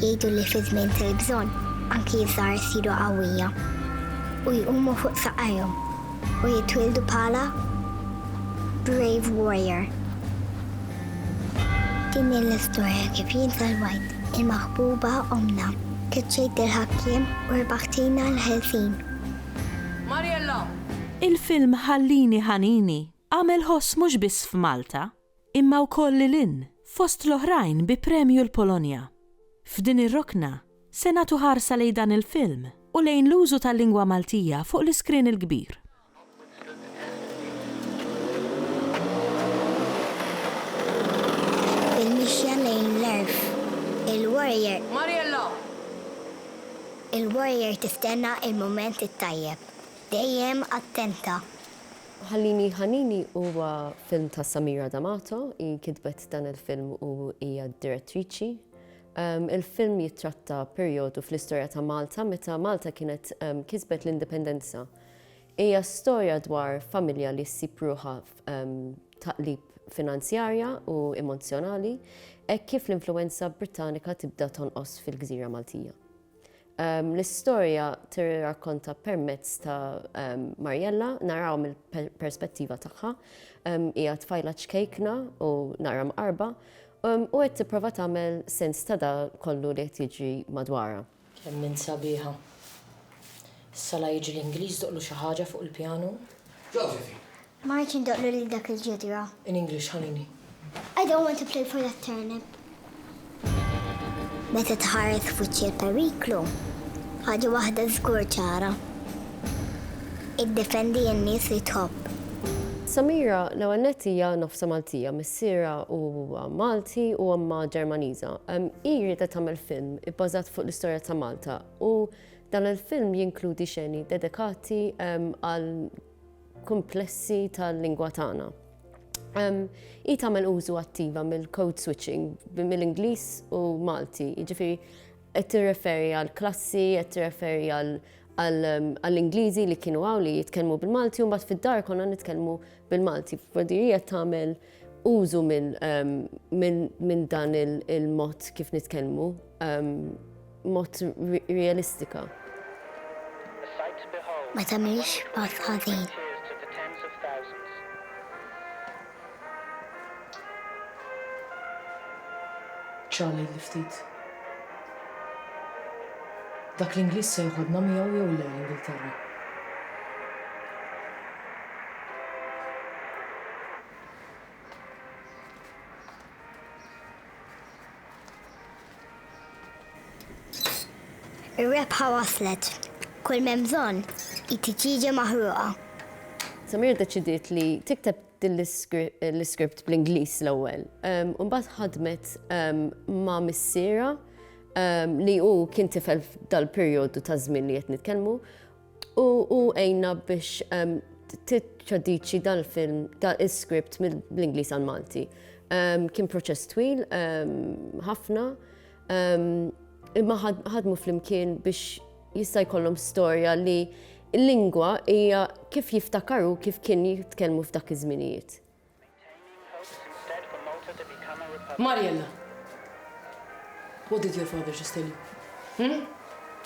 Jgħidu li fi żmien tal-bżonn anki ż-żgħar isiru qawwija u jqumu fuq saqajhom u jitwieldu bħala brave warrior. Din hi l-istorja kif jien salvajt il-maħbuba ommna, keċċejt il-ħakkiem u rbaħtilna l-ħelsien. Mariella! Il-film Ħallini Ħanini Għamel ħoss mhux biss f'Malta, imma wkoll lil hinn, fost l-oħrajn bi premju l-Polonja. F'din ir-rokna, se nagħtu ħarsa lejn dan il-film u lejn l-użu tal-lingwa Maltija fuq l-iskrien il-kbir. Il-mixja lejn l-għerf. Il-warrior. Mariella! Il-warrior tistenna il-mument it-tajjeb. Dejjem attenta. Ħallini Ħanini huwa film ta' Samira D'Amato, hi kitbet dan il-film u hija d-direttriċi. Ehm, il-film jittratta perjodu fl-istorja ta' Malta meta Malta kienet ehm, kisbet l-indipendenza. Hija storja dwar familja li ssib ruħha ehm, taqlib finanzjarja u emozjonali, hekk kif l-influenza Britannika tibda tonqos fil-gżira Maltija. L-istorja tirrakkonta permezz ta' Marjella, naraw mill-perspettiva tagħha. Hija tfajla ċkejkna u nara mqarba u qed tipprova tagħmel sens ta' da kollu li qed jiġri madwarha. Kemm int sabiħa. Issa la jiġi l-Ingliż doqlu xi ħaġa fuq il-pjanu. Josephine! Ma rridx indoqlu lil dak il-ġidra. In English, ħalini. I don't want to play for that turnip. Meta tħares f'wiċċ il-periklu, ħaġa waħda żgur ċara. Iddefendi n-nies li tħobb. Samira, l-ewwel nett hija nofsha Maltija, missierha huwa Malti u ommha Ġermaniża. Hi riedet tagħmel film ibbażat fuq l-istorja ta' Malta u dan il-film jinkludi xeni dedikati għal kumplessi tal-lingwa tagħna. Hi tagħmel użu attiva mill-code switching mill-Ingliż u Malti, jiġifieri qed tirreferi għal klassi, qed tirreferi għall-Ingliżi li kienu hawn li jitkellmu bil-Malti u mbagħad fid-dar konna nitkellmu bil-Malti. F'Brodirija tagħmel użu minn dan il-mod kif nitkellmu, mod realistika. Ma tagħmilx pass ħażin. Ċalilli ftit. Dak l-Ingliż se joħodna miegħu jew le l-Ingilterra? Ir-rebħa waslet. Kull m'hemm bżonn hi tiġieġa maħruqa. Samir ddeċidiet li tikteb din l-iskript bl-Ingliż l-ewwel. U mbagħad ħadmet ma' missierha li hu kien tifel f'dal-perjodu ta' żmien li qed nitkellmu U għejna biex tittraduċi dan il-film, dan il-script mill-Inglis għal Malti. Kien proċess twil, ħafna, imma ħadmu fl-imkien biex jista' jkollhom storja li l-lingwa hija kif jiftakaru kif kien jitkellmu f'dak iż-żminijiet. Mariella, what did your father just tell you? Hmm?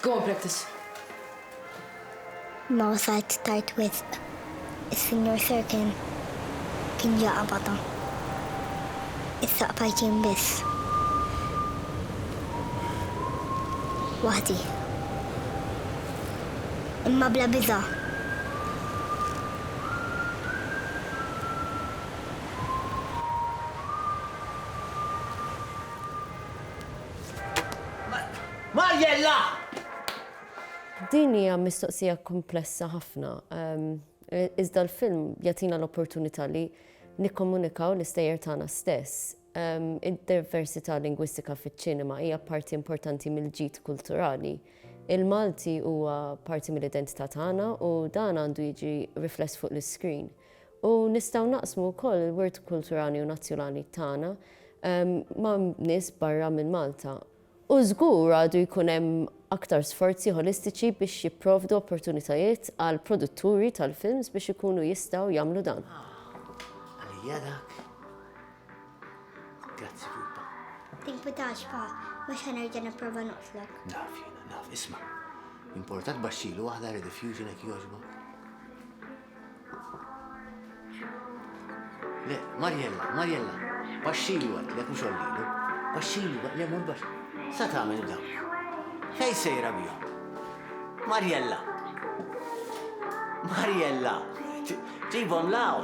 Go and practice. Ma wasalt tard wisq. Is-Sinjur Sirkin kien ġa qabadha. Issa qbajt jien biss. Waħdi. Imma bla biża'. Mariella! Din hija mistoqsija kumplessa ħafna, iżda l-film jagħtina l-opportunità li nikkomunikaw l-istejjer tagħna stess. Id-diversità lingwistika fiċ-ċinema hija parti importanti mill-ġid kulturali. Il-Malti huwa parti mill-identità tagħna u dan għandu jiġi rifless fuq l-iscreen. U nistgħu naqsmu wkoll il-wirt kulturali u nazzjonali tagħna ma' nies barra minn Malta. U żgur għadu jkun hemm aktar sforzi ħolistiċi biex jipprovdu opportunitajiet għal produtturi tal-films biex ikunu jistgħu jagħmlu dan. Għalija dak. Grazzi pupa. Tinkwitax pa, mhux ħanerġa' nipprova noqtlok. Naf jiena, naf, isma'. Importat baxxilu waħda rediffusion hekk jogħġbok. Le, Marjella, Marjella, baxxilu għad, le mhux ollilu. Baxxilu għad, le mhux baxx. Sa tagħmel da. Fej sejra bihom. Marjella. Marjella. Ġibhom law.